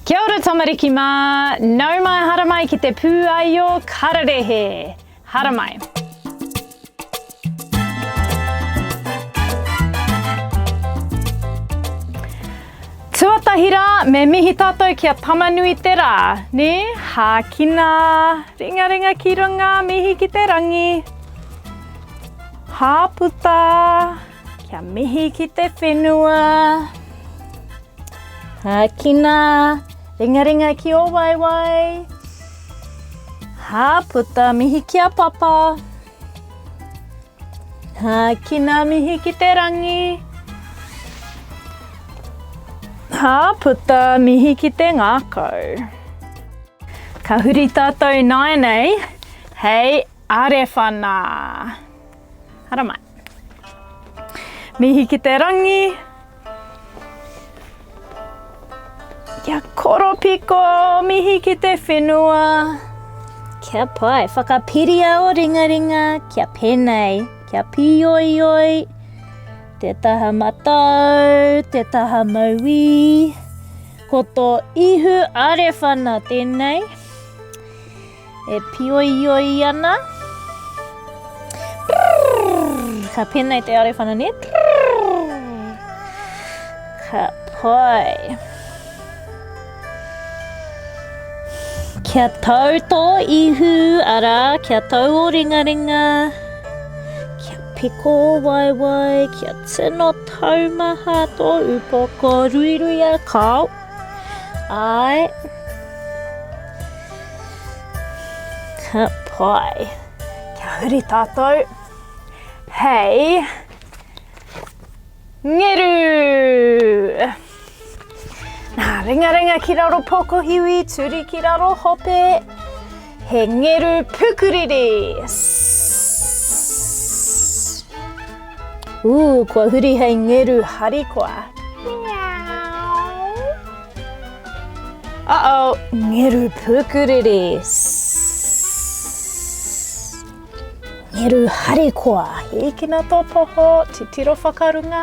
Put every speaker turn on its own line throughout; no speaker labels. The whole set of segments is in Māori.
Kia ora tamariki mā! Nau mai haramai ki te pūaio kararehe! Haramai! Tuatahi rā, me mihi tātou ki a Tamanui te rā, nē? Hākina! Ringaringa ki runga, mihi ki te rangi! Hāputa! Kia mihi ki te whenua. Ākina, ringaringa ki ō waewae. Hāputa, mihi ki a papa. Ākina, mihi ki te rangi. Hāputa, mihi ki te ngākau. Ka huri tātou nāianei hei arewhana. Haramai. Mihi ki te rangi. Kia koropiko, mihi ki te whenua. Kia pai, whakapiria o ringaringa, kia penei, kia pioioi. Te taha matau, te taha mauī. Ko tō ihu arewhana tēnei. E pioioi ana. Prrrr, ka pēnei te arewhana ne. Prrrr, ka pai. Kia tau tō ihu, arā, kia tau o ringaringa. Kia piko o waiwai, kia tino taumaha tō upoko ruiruia kāo. I can't pie. Kia huri tātou. Hei. Ngeru! Nā, ringa ringa ki raro pokohiwi, turi ki raro hope. He ngeru pukuriri! Ooh, kua huri hei ngeru harikoa. Uh oh, ngeru pukuriri! Ngeru harikoa! Hīkina tō poho, titiro whakarunga.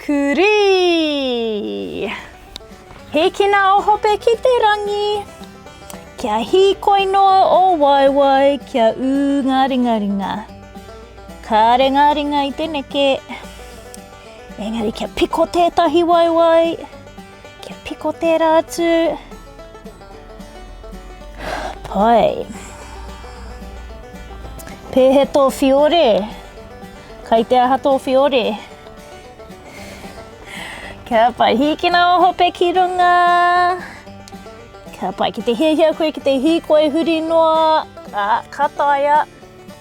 Kurī! Hīkina o Hope ki te rangi, kia hīkoi noa o waewae, kia ū ngā ringaringa. Kāre ngā ringa i te neke, engari kia piko tētahi waewae, Kia piko tērā atu. Pai. Pēhe tō whiore? Kai te aha tō whiore? Kia pai, hīkina o hope ki runga. Kia pai, ki te hiahia koe ki te hīkoi huri noa, a, ka taia.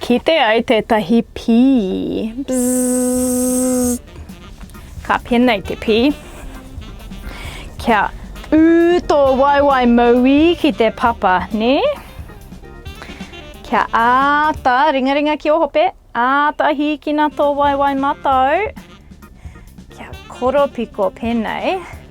Kite ai tētahi pī. Ka penei te pī. Kia ū tō waewae mauī ki te papa, nē? Kia āta ringaringa ki ō hope, āta hīkina tō waewae matau. Kia koropiko penei.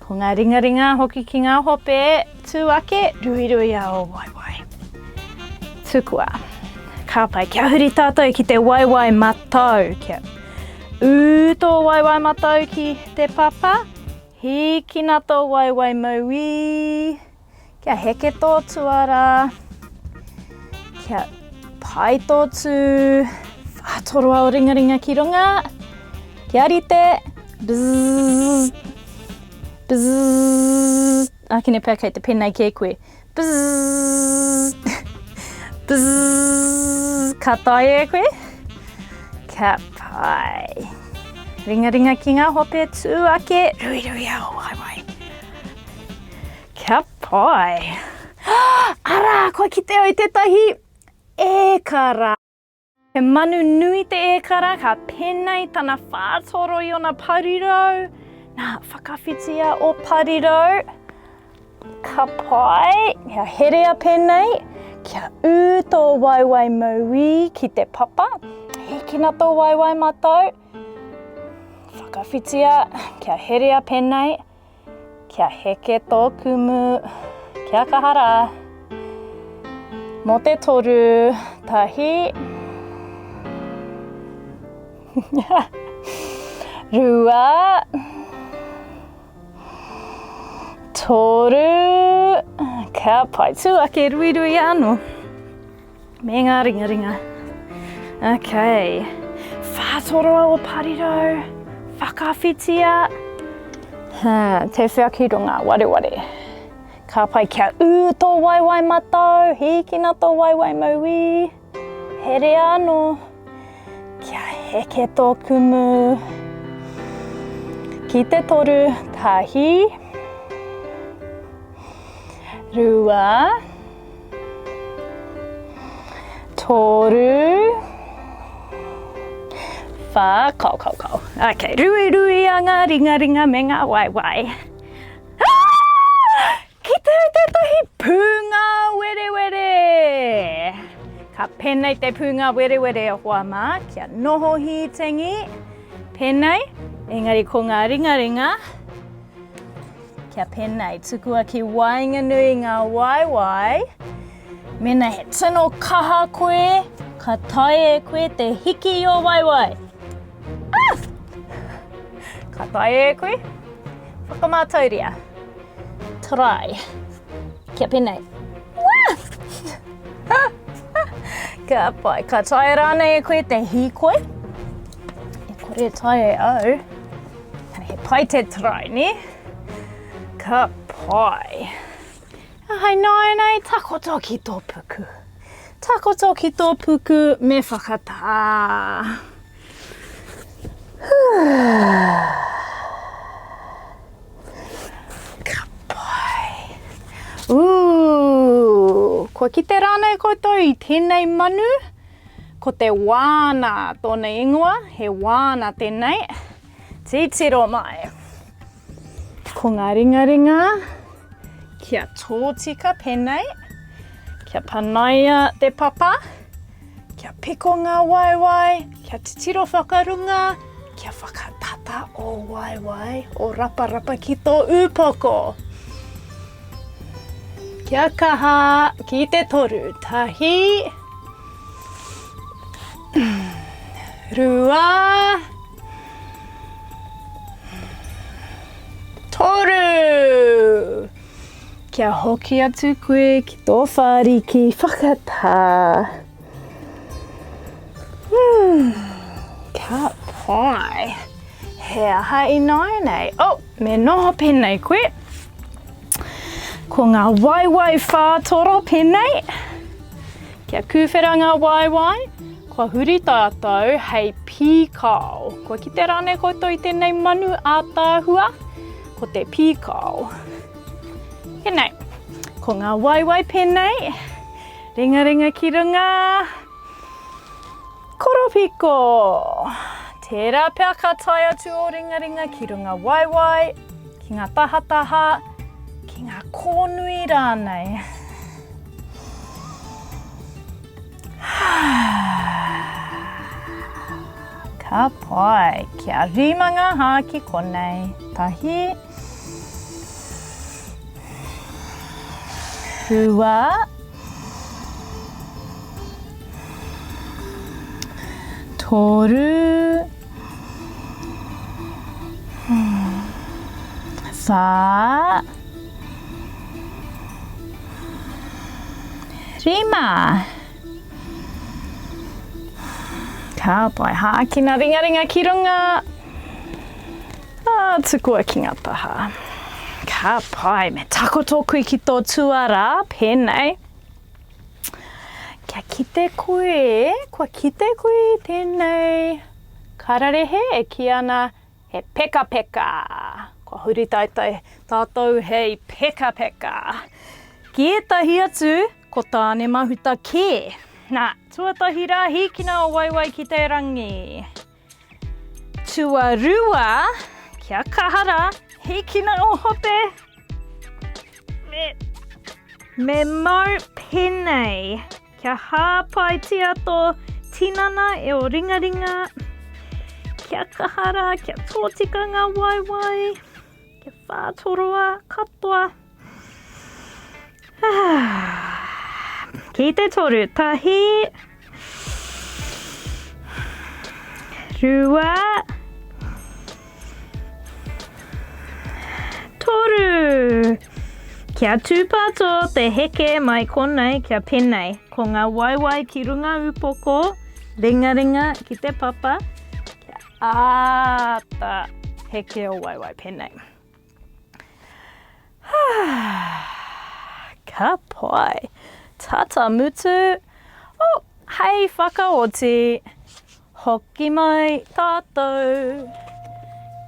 Ko ngā ringaringa hoki ki ngā hope tū ake, ruirui a ō waewae. Tukua, ka pai, kia huri tātou ki te waewae matau, kia ū tō waewae matau ki te papa, hīkina tō waewae mauī, Kia heke tō tuara. Kia pai tō tū. Whātoroa o ringaringa ki runga. Kia rite. Bzzz. Bzzz. Ākene pea kei te penei kē koe. Bzzz. Bzzz. Ka tae e koe. Kia pai. Ringaringa ki ngā hope tū ake. Ruiruia o waewae. Kia pai! Arā, kua kite au i tētahi ēkara! He manu nui te ēkara, ka penei tana whātoro i ōna parirau. Nā, whakawhitia ō parirau. Ka pai! Kia herea pēnei, kia ū tō waewae mauī ki te papa. Hīkina tō waewae matau. Whakawhitia, kia herea pēnei. Kia heke tō kumu, kia kaha rā. Mō te toru, tahi. Rua. Toru. Kia pai tū ake ruirui anō. Me ngā ringaringa. Ok. Whātoroa o Parirau. Whakawhitia. Ha, te wheakironga, wareware. Ka pai kia ū tō waewae matau, hīkina tō waewae mauī. Herea anō. Kia heke tō kumu. Ki te toru, tahi. Rua. Rua. Toru. Wha, kao, kao, kao. Ok, rui, rui a ngā ringa, ringa me ngā wai, wai. Ki te tētahi pūnga werewere. Ka penei te pūnga werewere o hoa mā, kia noho hītengi, penei, engari ko ngā ringa, ringa, Kia penei, tukua ki waenganui ngā waewae, mena he tino kaha koe, ka tae e koe te hiki i o waewae. Ah! Ka tae e koe, whakamātauria. Try. Kia penei. Ka pai, ka tae rānei e koe te hīkoi? E kore tae e au. He pai te try, ne? Ka pai. Hai nāianei, takoto ki tō puku. Takoto ki tō puku, me whakatā. Ka pai. Ū, kua kite rānei koutou i tēnei manu? Ko te wāna tōna ingoa, he wāna tēnei, titiro mai. Ko ngā ringaringa kia tōtika pēnei, kia panaia te papa, kia piko ngā waewae, kia titiro whakarunga, kia whakatata o waewae, o raparapa ki tō ūpoko. Kia kaha ki te toru, tahi, Rua. Toru. Kia hoki atu koe ki tō whāriki whakatā. Hmm. Ka pai. He aha ināinei? Oh, me noho pēnei koe. Ko ngā waiwai whātoro pēnei. Kia kūwhera ngā waewae, kua huri tātou hei pīkao. Kua kitea rānei koutou i tēnei manu ātaahua? Ko te pīkao. Tēnei, ko ngā waewae pēnei, ringaringa ki runga, koropiko. Tērā pea ka tae atu ō ringaringa ki runga waewae, ki ngā tahataha, ki ngā kōnui rānei. Ka pai, kia rima ngā hā ki konei. Tahi. Rua. Toru. Whā. Rima. Ka pai, hākina ringaringa ki runga. Ah, tukua ki ngā taha. Ka pai, me takoto koe ki tō tuara, pēnei. Kia kite koe, kua kite koe tēnei kararehe e kī ana, He pekapeka! Kua huri taetae tātou hei pekapeka! Ki ētahi atu, ko Tāne Mahuta kē! Nā, tuatahi rā hīkina o Waiwai ki te rangi. Tuarua, kia kaha rā, hīkina o Hope! Me mau penei! Kia hāpaitia tō tinana e o ringaringa. Kia kaha rā, kia tōtika ngā waewae. Kia whātoroa katoa. Ki te toru, tahi. Rua. Rua. Toru! Kia tūpāto te heke mai konei kia penei. Ko ngā waewae ki runga upoko, ringaringa ki te papa, kia āta heke o waewae penei. Ka pai! Tata mutu! Oh, hei whakaoti! Hoki mai tatou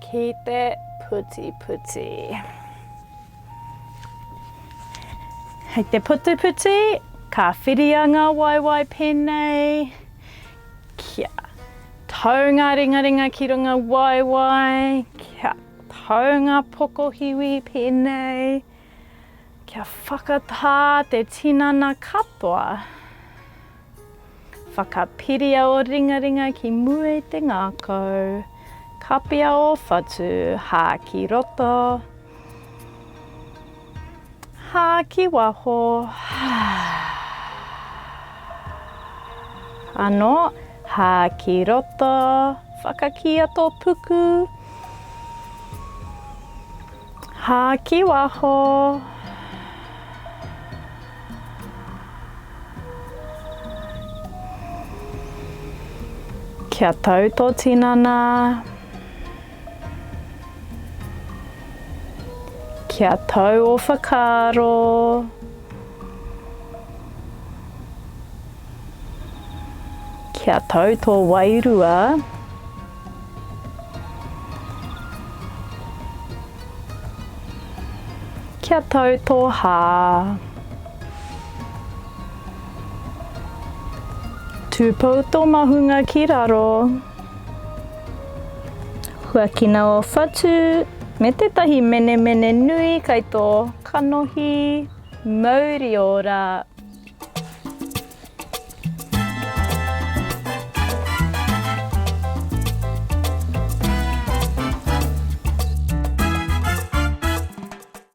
ki te putiputi. Hei te putiputi, ka whiria nga waewae penei, kia tau nga ringaringa ki runga waewae, kia Taunga pokohiwi pēnei kia whakatā te tinana katoa. Whakapiria o ringaringa ki mua i te ngākau. Kapia o whatu, hā ki roto. Hā ki waho anō, hā ki roto, whakakīa tō puku, hā ki waho, kia tau tō tinana. Kia tau ō whakaaro. Kia tau tō wairua. Kia tau tō hā. Tūpou tō mahunga ki raro. Huakina o Whatu me tētahi menemene nui kai tō kanohi mauri ora.